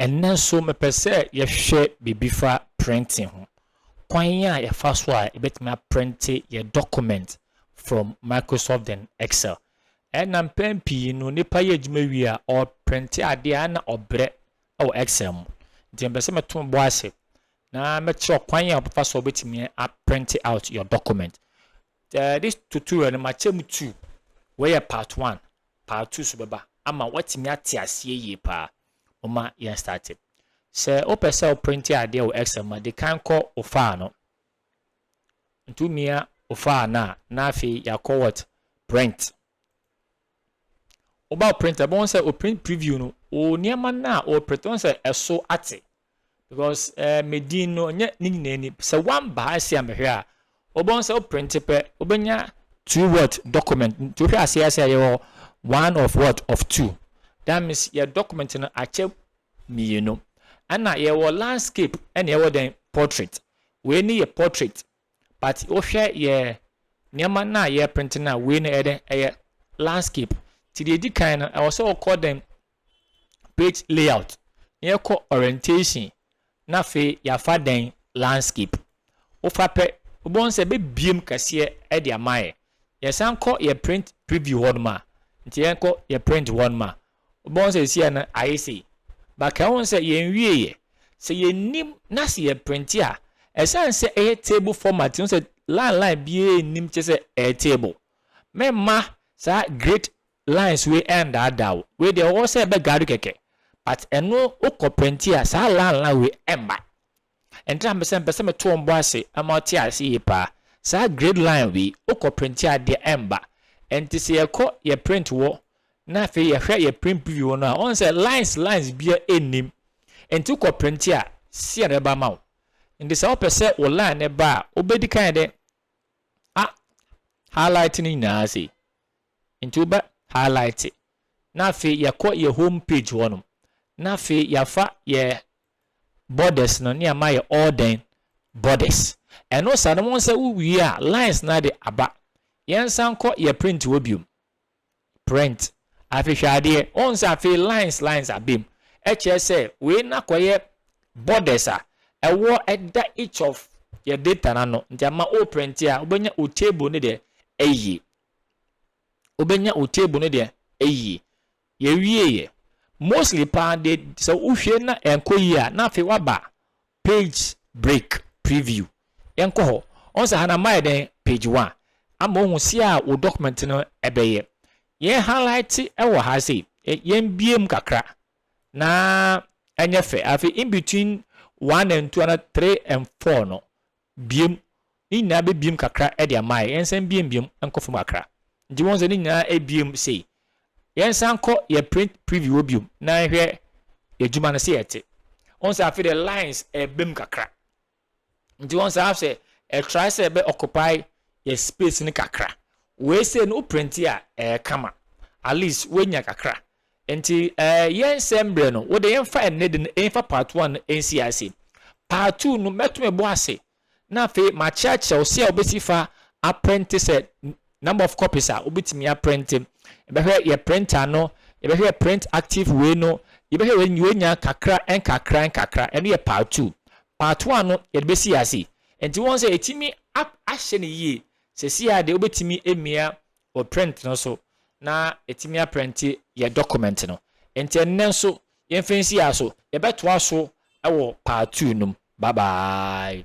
Ɛnnɛ nso mepɛ sɛ yɛhwɛ biribi fa printing ho. Kwan a yɛfa so a yɛbɛtumi aprente yɛn document from Microsoft and Excel. Ɛna mpɛn pii no nipa yɛ adwuma wie a ɔprente adeɛ a ɛna ɔbrɛ wɔ Excel mu. Nti mepɛ sɛ meto bo ase na mɛkyerɛ wo kwan a wobɛfa so a wobɛtumi a print out your document. Uh, this tutorial no makyɛ mu two. Wei yɛ part one, part two so bɛba ama woatumi ate aseɛ yie paa. Moma yɛn start. Sɛ wopɛ sɛ woprinte adeɛ wɔ Excel ma de kan kɔ wo faa no. Nti womia wo faa no a, na afei yɛakɔ what? Print. Woba wo printer, bɛhu sɛ o print preview no, o nneɛma no a o print, bɛhu sɛ ɛso ate. Because eh, me din no, nyɛ ne nyinaa ni. Sɛ one ba ase a mehwɛ a, wobɛhu sɛ o print pɛ, wobɛnya two what document. Nti wohwɛ ase ase a yɛwɔ one of what of two. That means yɛ document no akyɛ mmienu. Ɛna yɛwɔ landscape ɛna yɛwɔ dɛn portrait. Wei ne yɛ portrait. but wo hwɛ yɛ nneɛma no a yɛ print no a wei no ɛyɛ dɛn ɛyɛ landscape ti deɛ edi kan no ɛwɔ sɛ ɔkɔ dɛn page layout na yɛ kɔ orientation na afei yafa dɛn landscape wofa pɛ wobɛn sɛ bebiem kɛseɛ ɛde ama yɛ yɛsan kɔ yɛ print preview hɔ nom a nti yɛn kɔ yɛ print hɔ nom a Wobɔ nsɛ sia no ayɛ sei. But ka ho sɛ yɛn wieɛ. Sɛ yɛn nim na sɛ yɛ printe a, ɛsan sɛ ɛyɛ table format nti, wohu sɛ line line biara nnim kyerɛ sɛ ɛyɛ table. Me mma saa grid lines wei ɛndaadaa wo. Wei deɛ ɔwɔ sɛ ɛbɛ guide wo kɛkɛ. But ɛno wo kɔ printe a saa line line wei ɛmma. Ɛntra me sɛ mepɛ sɛ meto wɔn bo ase ma wɔte ase yie pa ara. Saa grade line wei, wokɔ printe a adeɛ ɛmba. Ɛnti sɛ yɛkɔ yɛ print wɔ na afei yɛhwɛ yɛ print preview wɔ no a, woahu sɛ lines lines biara ɛnnim. Ɛnti wokɔ printe a, sei na ɛba ma wo. Ɛnti sɛ wopɛ sɛ wo line no ba a, wobɛdi kan ayɛ dɛ? A highlight no nyinaa sei. Ɛnti wobɛ highlight. Na afei yɛkɔ yɛ home page hɔ nom. Na afei yɛafa yɛ borders no ne ama ayɛ all dɛn borders ɛno saa no wɔn sɛ wo wie a lines no ade aba yɛn san kɔ yɛ print wɔ biom print afi hwɛ adeɛ wɔn sɛ afi lines lines abem ɛkyerɛ sɛ wei na kɔ yɛ borders a ɛwɔ ɛda each of yɛ data na no nti ama o print a wobɛnya o table no deɛ ɛyie wobɛnya o table no deɛ ɛyie Yɛwieeɛ. Mostly paa deɛ sɛ wohwɛ na ɛnkɔ yie a, na afei woaba page break, preview. Yɛnkɔ hɔ. Woahu sɛ ha no ama ayɛ dɛn? Page one. Ama woahu sɛa wo document no bɛyɛ. Yɛn highlighte wɔ ha sei. Yɛmbue mu kakra na ɛnyɛ fɛ. Afei in between one and two anaa three and four no, biom ne nyinaa bɛbiom kakra de amaɛ yɛnsan biom biom nkɔ fam kakra nti wohu sɛ ne nyinaa abiom sei yɛnsan nkɔ yɛ print preview hɔ biom na nhwɛ yɛ adwuma no sɛ ɛte wohu sɛ afei de lines ɛbam kakra nti wohu sɛ afei ɛtrae sɛ ɛbɛ occupy yɛ space no kakra wei sei no wo print a ɛyɛ kama at least woanya kakra Nti eh, yɛnsɛe mberɛ no, wode yɛmfa ɛnnɛ de no ɛmfa part one no ɛnsi ase. Part two no mɛto me bo ase na afei makyerɛkyerɛ wo sɛdeɛ wobɛsi fa aprente sɛ number of copies a wobɛtumi aprente. Yɛbɛhwɛ yɛ printer no, yɛbɛhwɛ yɛ print active wei no, yɛbɛhwɛ wei no yɛnya kakra nkakra nkakra, ɛno yɛ part two. Part one no yɛde bɛsi ase. Nti wohu sɛ ɛtumi ahyɛ no yie. Seesei ara deɛ wobɛtumi amia wɔ print no so na ɛtumi aprɛnte yɛn document no. Nti ɛnnɛ nso yɛmfa nsi ha so, yɛbɛtoa so wɔ part two no mu. Bye bye.